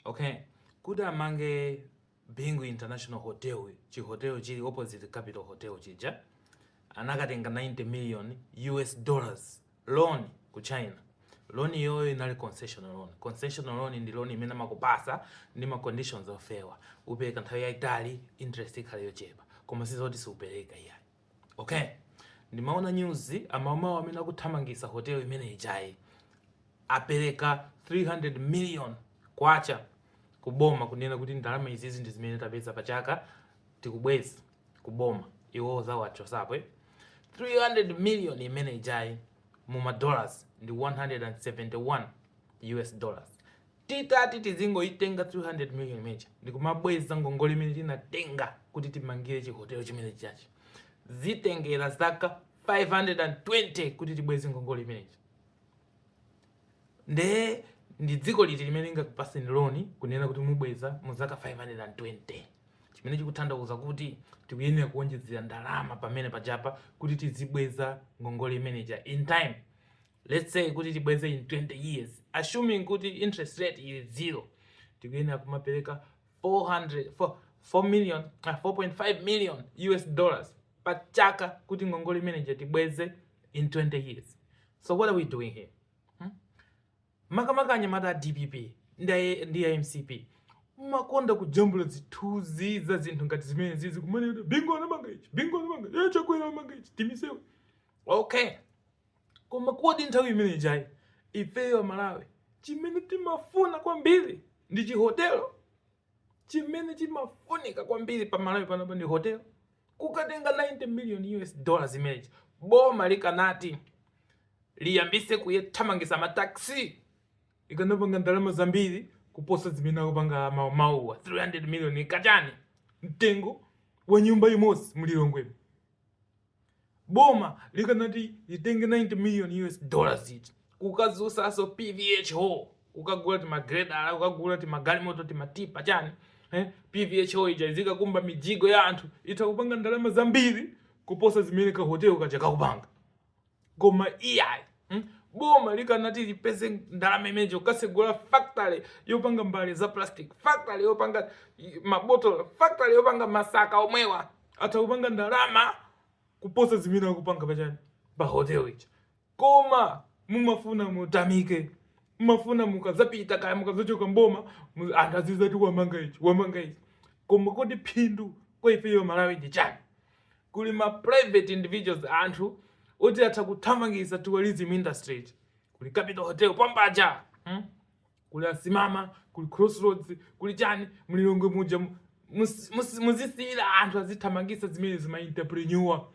okay kuti amange bingu international hotel chihotel chili opposite capital hotel chija anakatenga 90 million us dollars loan ku china loan iyoyo inali concessional loan concessional loan ndi loan imene amakupasa ndi ma conditions ofewa upereka nthawi yaitali interest ikhale yochepa koma sizoti siupereka iyayi ok ndimaona news a Umodziwo amene akuthamangisa hotel imene ijayi apereka 300 million kwacha kuboma kunena kuti ndalama izizi ndi zimene tapeza pa chaka tikubweza kuboma iwo zawachosa apo 300 million imene ijayi mu madollars ndi 171 us dollars Titati tizingoitenga 300 million imeja ndikumabweza ngongole imene tinatenga kuti timangire chihotelo chimene chijachi, zitengera zaka 520 kuti tibweze ngongole imene ija. Nde ndi dziko liti limene lingakupaseni loni kunena kuti mubweza mu zaka 520 chimene chikutanthauza kuti tikuyenera kuonjezera ndalama pamene pajapa kuti tizibweza ngongole imeneja in time. let's say kuti tibweze in 20 years assuming kuti interest rate ili zero tikuyenera kumapereka 400 4, 4 million uh, 4.5 million us dollars pa chaka kuti ngongole imeneja tibweze in 20 years so what are we doing here hmm? makamaka anyamata a dpp ndi a- ndi a mcp makonda kujambula zithunzi za zinthu ngati zimene zizi kumanena bingu anamanga ichi bingu anamanga ichi chakwera anamanga ichi timisewe okay Koma kodi nthawi imene ijayi ifeyo Amalawi chimene timafuna kwambiri ndi chihotelo? Chimene chimafunika kwambiri pa Malawi panopa ndi hotelo? Kukatenga 90 million US dollars imene ija, boma likanati liyambise kuthamangisa ma taxi ikanapanga ndalama zambiri kuposa zimene akupanga amaumauwa 300 million ija ndi chani mtengo wa nyumba imodzi mlilongwemu Boma likanati litenge 90 million US dollars ija kukadzusaso PVHO kukagula tima gredala kukagula tima galimoto tima tipa chani eh? PVHO ija izikakumba mijigo ya anthu itha kupanga ndalama zambiri kuposa zimene ka hotel kaja kakupanga. koma iyayi hmm? boma likanati lipeze ndalama imeneyo kukasegula factory yopanga mbale za plastic factory yopanga mabotolo factory yopanga masaka omwewa atha kupanga ndalama kuposa zimene akupanga pachani pa hotel ija koma mumafuna mutamike mumafuna mukazapita kaya mukazachoka mboma anthu azizati wamanga ichi wamanga ichi koma kodi phindu kwa ifeyo amalawi ndi chani kuli ma private individuals anthu oti atha kuthamangisa tourism industry iti kuli capital hotel pambaja hmm? kuli asimama kuli crossroads kuli chani mlilongwe muja mu- mus- mus- muziwasiyira anthu azithamangisa zimene zima entrepreneur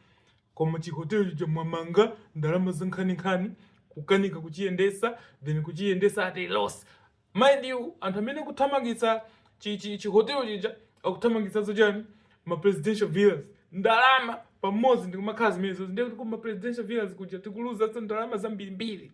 koma chihotelo cha mwamanga ndalama zankhaninkhani kukanika kuchiyendesa then kuchiyendesa at a loss Mind you, anthu amene akuthamangisa chi chi chi hotel chija akuthamangisaso chani ma presidential villas ndalama pamodzi ndikumakhala zimenezo ndiye kuti kuma presidential villas kuja tikuluzanso ndalama zambirimbiri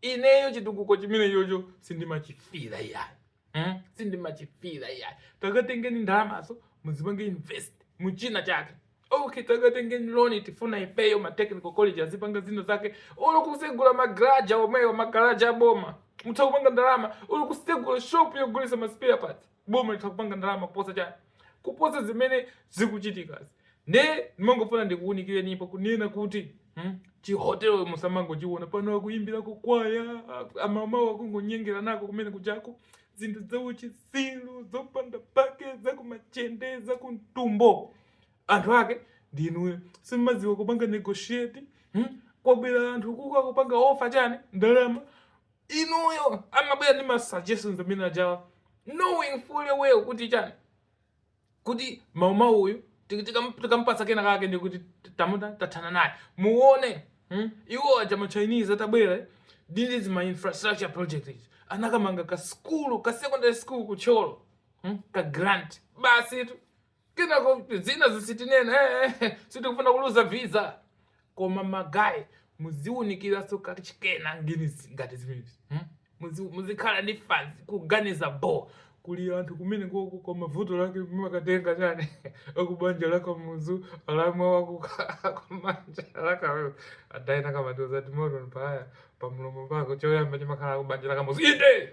ineyo chitukuko chimenecho sindimachifila iyayi hmm? sindimachifila iyayi takatengeni ndalamazo muzipange invest muchina chake Okay, takatengeni loni tifuna ifeyo ma technical college azipanga zina zake olo kusegula magaraja omwewo magaraja aboma mutha kupanga ndalama olo kusegula shop yogulisa ma spare parts boma litha kupanga ndalama kuposa chani kuposa zimene zikuchitikazi nde ndimangofuna ndikuwunikirenipo kunena kuti hmm? chihotelo musamangochiona pano akuyimbira kukwaya amama wakungonyengera nako kumene kuchako zinthu zauchitsiru zopanda pake zakumachende zakumtumbo anthu ake ndi inuyo simmaziwa kupanga negotiate hmm? kwabwera anthu kuka kupanga offer chani ndalama inuyo amabwera ndi ma suggestions amene ajawa knowing fully well kuti chani kuti mama uyu ti- tikam- tikamupatsa kena kake ndi kuti tamuta tathana naye muone hmm? iwo aja ma chinese atabwera eh, these ma infrastructure projects anakamanga ka skulu ka secondary school ku Thyolo hmm? ka grant basi tu kenako zina zisitinena eh, eh, sitikufuna kuluza visa koma ma guy muziwunikiranso kachikena ngini ngati zimenezi hmm? muzikhala ndi fanzi kuganiza bo kuli anthu kumene koko koma vuto lake makatenga chani akubanja la Kamuzu alamwa wako akubanja laka adayina kamatoza timoto mpaya pamulomo pako choyamba chimakhala akubanja la Kamuzu inde